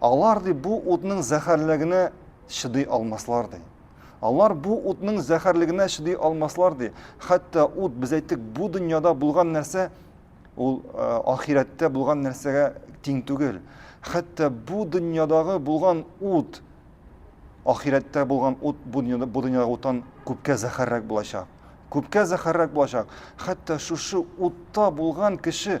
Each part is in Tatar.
Алар ди бу утның зәхәрлегенә чыдый алмаслар ди. Алар бу утның зәхәрлегенә чыдый алмаслар ди. Хәтта ут без әйттек бу дөньяда булган нәрсә ул э, ахирәттә булган нәрсәгә тиң түгел. Хәтта бу дөньядагы булган ут ахирәттә булган ут бу дөньяда бу дөньяда утан күпкә зәхәррәк булачак. Күпкә зәхәррәк булачак. Хәтта шушы утта булган кеше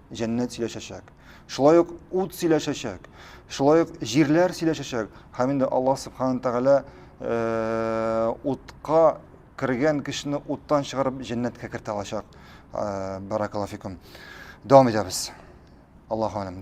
җәннәт сөйләшәчәк. Шулай ук ут сөйләшәчәк. Шулай ук җирләр сөйләшәчәк. Һәм инде Аллаһ Субхану Тәгалә э, утка кергән кешене уттан чыгарып җәннәткә кертә алачак. Э, Баракаллафикум. Дәвам итәбез. Аллаһу аләм.